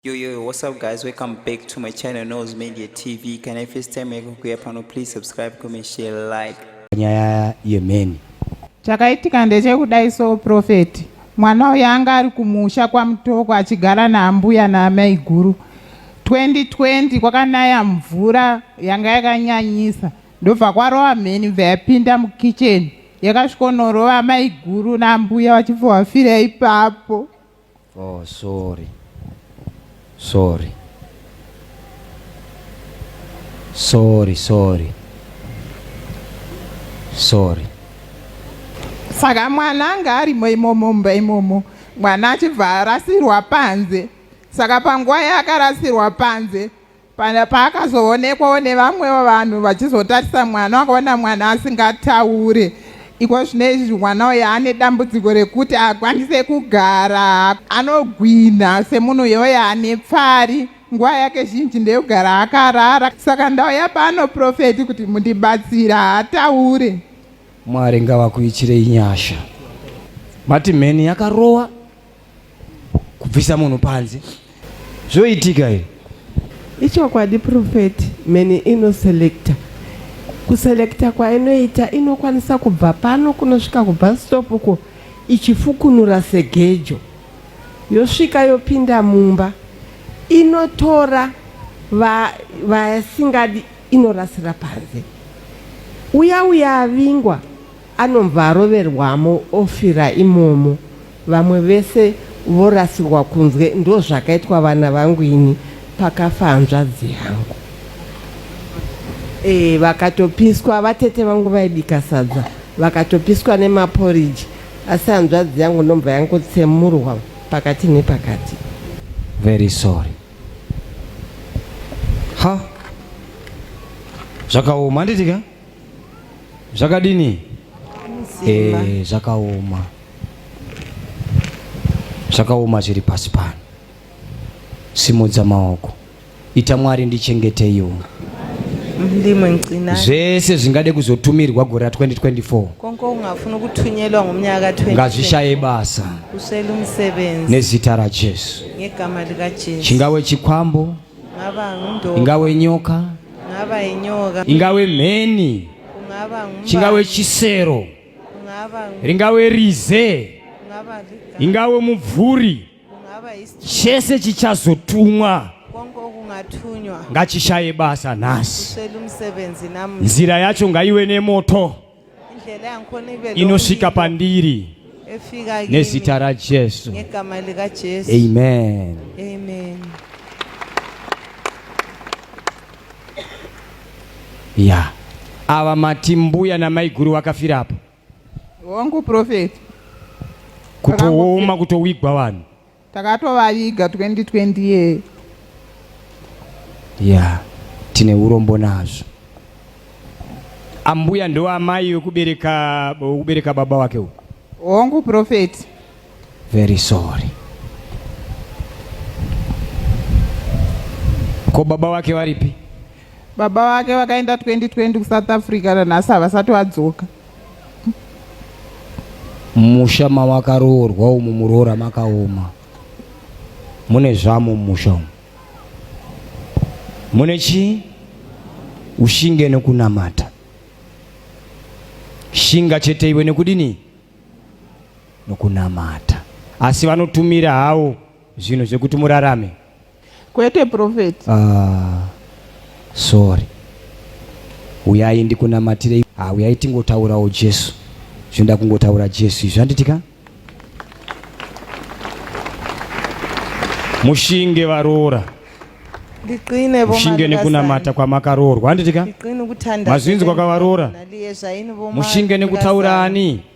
Yo yo yo, what's up guys? Welcome back to my channel Nose Media TV. Can I first time yako kuya pano please subscribe, comment, share, like. Nyaya yemeni. Chakaitika ndechekudai so prophet. Mwana uyu anga ari kumusha kwaMutoko achigara naambuya naamaiguru. 2020 kwakanaya mvura yanga yakanyanyisa ndobva kwarova mheni bva yapinda mukitchen yakasvikonorova amaiguru naambuya vachibva vafira ipapo. Oh sorry. Sorry. Sorry, sorry. Sorry. Saka mwana anga arimo imomo mumba imomo mwana achibva arasirwa panze saka panguva yaakarasirwa panze Pana paakazoonekwawo nevamwewo vanhu vachizotarisa mwana wakaona mwana asingataure iko zvine izvi mwana uyo ane dambudziko rekuti akwanise kugara anogwinha semunhu yoyo ane pfari nguva yake zhinji ndeyogara akarara saka ndauya pano profeti kuti mundibatsira hataure mwari ngavakuitirei nyasha mati mheni yakarowa kubvisa munhu panze zvoitika i ichokwadi profeti many inoselecta kuselecta kwainoita inokwanisa kubva pano kunosvika kubastop uko ichifukunura segejo yosvika yopinda mumba inotora vasingadi va inorasira panze uya uya avingwa Anobva aroverwamo ofira imomo vamwe vese vorasirwa kunze ndozvakaitwa vana vangu ini pakafa hanzvadzi yangu ee vakatopiswa vatete vangu vaibika sadza vakatopiswa nemaporiji asi hanzvadzi yangu ndomva yangotsemurwa pakati nepakati very sorry ha zvakaoma handiti ka zvakadini eh, zvakaoma zvakaoma zviri pasi pano simudza maoko ita mwari ndichengeteiwo ndimwe ncina zvese zvingade kuzotumirwa gore ra 2024 konko ungafuna ukuthunyelwa ngomnyaka ka ngazvishaye basa uswele umsebenzi nezita rajesu ngegama likajesu chingawe chikwambo ingave nyoka ingave mheni chingave chisero ringave rize ingave mubvuri chese chichazotumwa ngachishaye basa nhasi nzira yacho ngaive nemoto inosvika pandiri nezita rajesu amen, amen. ya yeah. ava mati mbuya namaiguru vakafira apo wangu profeti kutooma kutowigwa vanhu Takatovaviga 2020 yee. Yeah, tine urombo nazvo. Ambuya ndo amai wekubereka wekubereka baba wake uyu. Hongu prophet. Very sorry. Ko baba wake varipi? Baba wake vakaenda 2020 kuSouth Africa nanhasi havasati vadzoka. musha mawakaroorwa umu muroora makaoma mune zvamo musha umu mune chii ushinge nekunamata shinga chete iwe nekudini nokunamata asi vanotumira hawo zvinhu zvekuti murarame kwete prophet ah, sorry uyai ndikunamatire ah, uyai tingotaurawo jesu zvinoda kungotaura jesu izvi handitika mushinge varoora mushinge nekunamata kwamakaroorwa handitika mazvinzi kwakavaroora mushinge nekutaura ani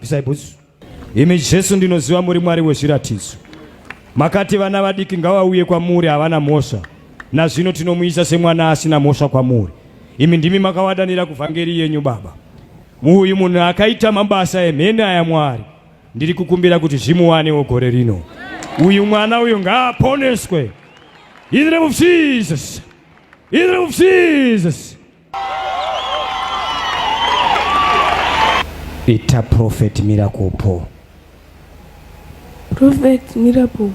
disciples imi jesu ndinoziva muri mwari wezviratidzo makati vana vadiki ngavauye kwamuri havana mhosva nazvino tinomuisa semwana asina mhosva kwamuri imi ndimi makavadanira kuvhangeri yenyu baba muuyu munhu akaita mabasa emhene aya mwari ndiri kukumbira kuti zvimuwanewo gore rino uyu mwana uyu ngaaponeswe in the name of jesus in the name of jesus Ita Prophet Miracle Paul. Prophet Miracle.